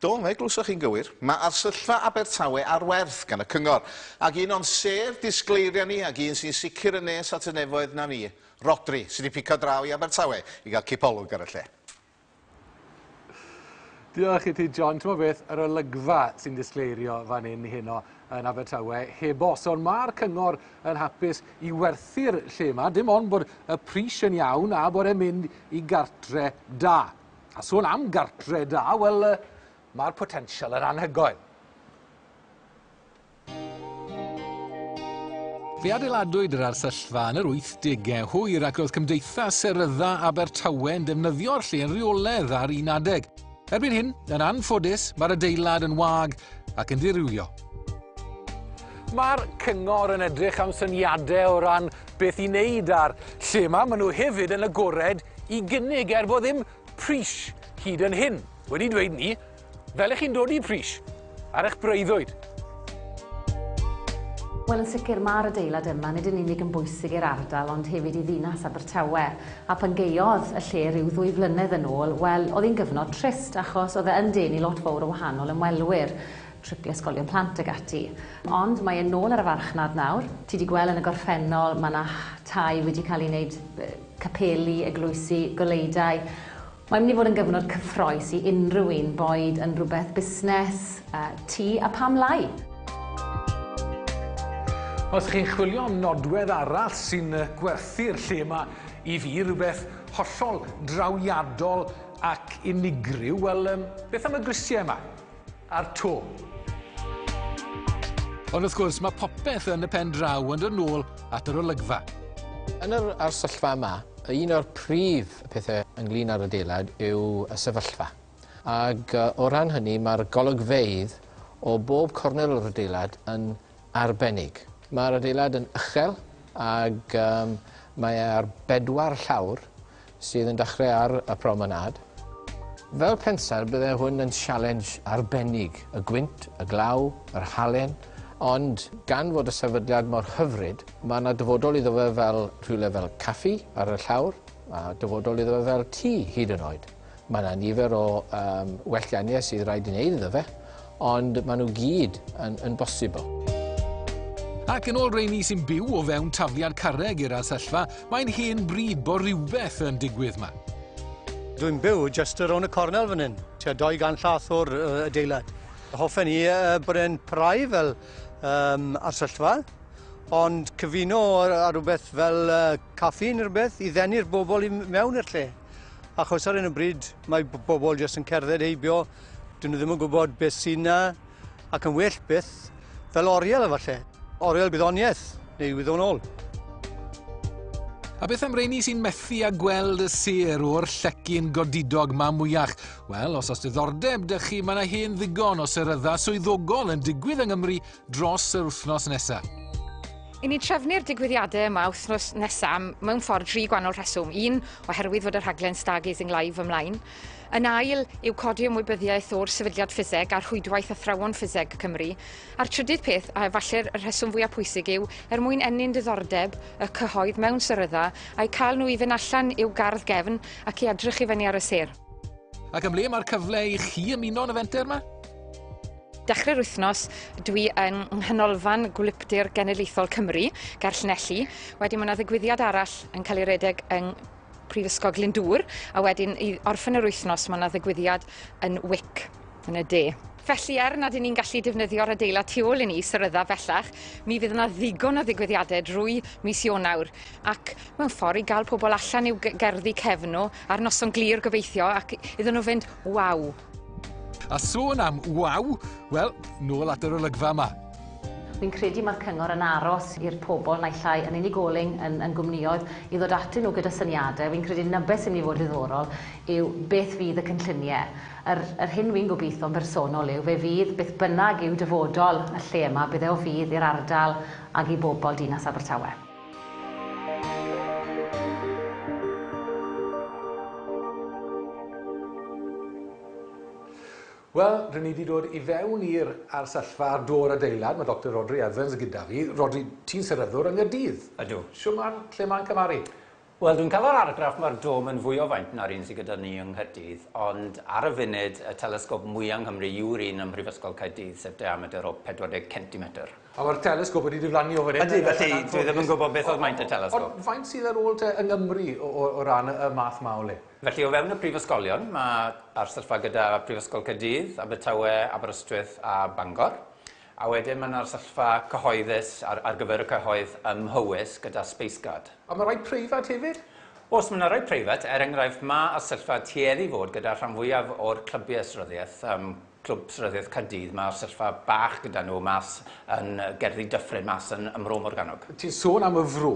Do, fe glywsoch chi'n gywir. Mae Arsyllfa Abertawe ar werth gan y Cyngor, ac un o'n sêr disgleiriau ni, ac un sy'n sicr yn nes at y nefoedd na ni, Rhodri, sydd wedi pico draw i Abertawe i gael cipolwg ar y lle. Diolch i ti, John. Ti'n beth, yr olygfa sy'n disgleirio fan hyn heno yn Abertawe heb os. Ond mae'r cyngor yn hapus i werthu'r lle yma, dim ond bod y pris yn iawn a bod e'n mynd i gartre da. A sôn am gartre da, wel, mae'r potensial yn anhygoel. Fe adeiladwyd yr arsyllfa yn yr 80au hwyr ac roedd Cymdeithas Serydda Abertawe yn defnyddio'r lle yn rheoledd ar un adeg. Erbyn hyn, yn anffodus, mae'r adeilad yn wag ac yn dirywio. Mae'r cyngor yn edrych am syniadau o ran beth i wneud a'r lle yma. Maen nhw hefyd yn agored i gynnig er bod ddim pris hyd yn hyn wedi dweud ni fel ych chi'n dod i pris ar eich breuddwyd. Wel, yn sicr, mae'r adeilad yma nid yn unig yn bwysig i'r ardal ond hefyd i ddinas Abertawe. A pan geiodd y lle rhyw ddwy flynedd yn ôl, wel, oedd hi'n gyfnod trist achos oedd e yn denu lot fawr o wahanol ymwelwyr, tripiau ysgolion plant ag ati. Ond mae e'n nôl ar y farchnad nawr. Ti wedi gweld yn y gorffennol, mae yna tai wedi cael ei wneud capeli, eglwysi, goleuadau. Mae'n mynd i fod yn gyfnod cyffroes i unrhyw un, boed yn rhywbeth busnes, ti a pam lai? Os chi'n chwilio am nodwedd arall sy'n gwerthu'r lle yma i fi, rhywbeth hollol drawiadol ac unigryw, wel, beth am y grisiau yma? a'r to. Ond wrth gwrs, mae popeth yn y pen draw yn dod nôl at yr olygfa. Yn yr arsyllfa yma, un o'r prif pethau ynglyn â'r adeilad yw y sefyllfa. Ac o ran hynny, mae'r golygfeydd o bob cornel o'r adeilad yn arbennig. Mae'r adeilad yn uchel ac um, mae ar bedwar llawr sydd yn dechrau ar y promenâd. Fel pensaer bydde hwn yn sialens arbennig, y gwynt, y glaw, yr halen, ond gan fod y sefydliad mor hyfryd, mae yna dyfodol iddo fe fel rhywle fel caffi ar y llawr, a dyfodol iddo fe fel tŷ hyd yn oed. Mae 'na nifer o um, wellganiau sydd rhaid i wneud iddo fe, ond maen nhw gyd yn, yn bosibl. Ac yn ôl reini sy'n byw o fewn tafliad carreg i'r arsyllfa, mae'n hen bryd bod rhywbeth yn digwydd yma. Dwi'n byw just ar ôl y cornel fan hyn, tua 200 llath o'r uh, adeilad. Hoffen i uh, bod e'n prai fel um, arsyllfa, ond cyfuno ar rhywbeth fel uh, caffi neu rhywbeth i ddenu'r bobl i mewn i'r lle. Achos ar hyn o bryd mae bobl jyst yn cerdded heibio, dyn nhw ddim yn gwybod beth sy'n na, ac yn well beth fel oriel efallai. Oriel gwyddoniaeth, neu wyddonol. A beth am reini sy'n methu a gweld y sir o'r llecyn godidog ma mwyach? Wel, os os diddordeb dych chi, mae yna hen ddigon o serydda swyddogol yn digwydd yng Nghymru dros yr wythnos nesaf. I ni trefnu'r digwyddiadau yma wythnos nesaf mewn ffordd dri gwannol rheswm. Un, oherwydd fod y rhaglen Stargazing Live ymlaen. Yn ail, yw codi ymwybyddiaeth o'r sefydliad ffiseg a'r rhwydwaith athrawon ffiseg Cymru. A'r trydydd peth, a efallai'r rheswm fwyaf pwysig yw, er mwyn ennyn diddordeb y cyhoedd mewn syrydda, a'i cael nhw i fynd allan i'w gardd gefn ac i edrych i fyny ar y sêr. Ac ym ble mae'r cyfle i chi ymuno yn y fenter yma? Dechrau'r wythnos, dwi yn Nghanolfan Gwlyptir Genedlaethol Cymru, ger Llanelli. Wedyn mae yna ddigwyddiad arall yn cael ei redeg yng Prifysgol Glyndŵr, a wedyn i orffen yr wythnos mae yna ddigwyddiad yn Wick yn y de. Felly, er nad y'n ni'n gallu defnyddio'r adeilad tu ôl i ni, syrydda bellach, mi fydd yna ddigon o ddigwyddiadau drwy mis Ionawr, ac mewn ffordd i gael pobl allan i'w gerddi cefn nhw ar noson glir gobeithio, ac iddyn nhw fynd, waw! A sôn am waw, wel, nôl at yr olygfa yma. Fi'n credu mae'r cyngor yn aros i'r pobl naill ai yn unigolyn, yn, yn gwmnïoedd, i ddod atyn nhw gyda syniadau. Fi'n credu 'na beth sy'n mynd i fod ddiddorol yw beth fydd y cynlluniau. Yr, yr hyn fi'n gobeithio'n bersonol yw fe fydd beth bynnag yw dyfodol y lle yma, bydd e o fudd i'r ardal ac i bobl Dinas Abertawe. Wel, rydyn ni wedi dod i fewn i'r arsyllfa ar dôr adeilad. Mae Dr Rodri Evans gyda fi. Rodri, ti'n seryddwr yng Nghaerdydd. Ydw. Shwmae, lle mae'n cymharu? Wel, dwi'n cael yr argraff mae'r dom yn fwy o faint na'r un sydd gyda ni yng Nghaerdydd, ond ar y funud, y telesgop mwya' yng Nghymru yw'r un ym Mhrifysgol Caerdydd, sef diamedr o 40 centimetr. A mae'r telesgop wedi diflannu o fan hyn. Ydy, felly dwi ddim yn gwybod beth oedd maint y telesgop. Ond faint sydd ar ôl te yng Nghymru o, o, o ran y math 'ma o le? Felly, o fewn y prifysgolion, mae'r sefyllfa gyda Prifysgol Caerdydd, Abertawe, Aberystwyth a Bangor. A wedyn mae 'na'r sefyllfa cyhoeddus ar ar gyfer y cyhoedd ym Mhowys gyda Spaceguard. A mae rhai preifat hefyd? Oes, mae 'na rhai preifat, er enghraifft mae y sefyllfa tueddu i fod gyda'r rhan fwyaf o'r clybiau sryddiaeth, yym Clwb Sryddiaeth Caerdydd, mae'r sefyllfa bach gyda nhw mas yn Gerddi Dyffryn mas yn ym Mro Morgannwg. Ti'n sôn am y Fro,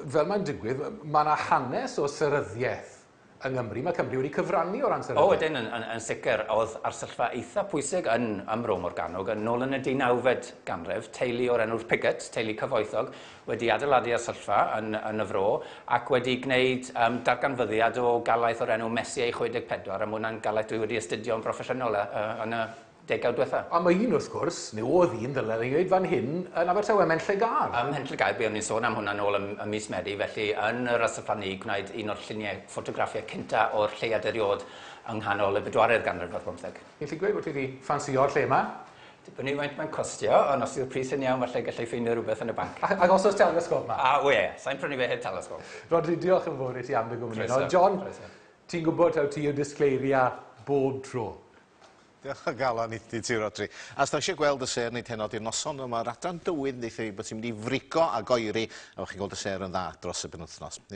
fel mae'n digwydd, mae 'na hanes o seryddiaeth Yng Nghymru, mae Cymru wedi cyfrannu o ran sefydlu... O, ydyn, yn, yn, yn sicr. Oedd arsyllfa eitha pwysig yn, ym Mro Morgannwg, yn ôl yn y deunawfed ganrif, teulu o'r enw'r Piggott, teulu cyfoethog, wedi adeiladu arsyllfa yn, yn y Fro, ac wedi gwneud um, darganfyddiad o galaeth o'r enw Messier 64, a mae hwnna'n galaeth dwi wedi astudio'n broffesiynol uh, yn y degawd diwetha'. A mae un, wrth gwrs, neu oedd un, ddyle i ddweud fan hyn, yn Abertawe, ym Mhenllygâr. Ym Mhenllygâr, buon ni'n sôn am hwnna nôl ym mis Medi, felly yn yr Astraplannu gwnaed un o'r lluniau ffotograffiau cynta' o'r lleuad eriôd yng nghanol y bedwaredd ganrif ar bymtheg. Ti'n gallu gweud bod ti 'di ffansio'r lle 'ma? Dibynnu faint mae'n costio, ond os yw'r pris yn iawn falle galla i ffeindio rhywbeth yn y banc. A os oes telesgôp 'ma? A, o ie, sa i'n prynu fe heb telesgôp. Rhodri, diolch yn fawr i ti am dy gwmni. Croeso, croeso. John, ti'n gwybod taw ti yw disgleiria bob tro. Diolch o galon i ti, Rhodri. A os da eisiau gweld y ser nid heno di'r noson, mae'r adran dywydd yn deitha fi bod ti'n mynd i frigo a goeri, a bod chi'n gweld y ser yn dda dros y penwythnos.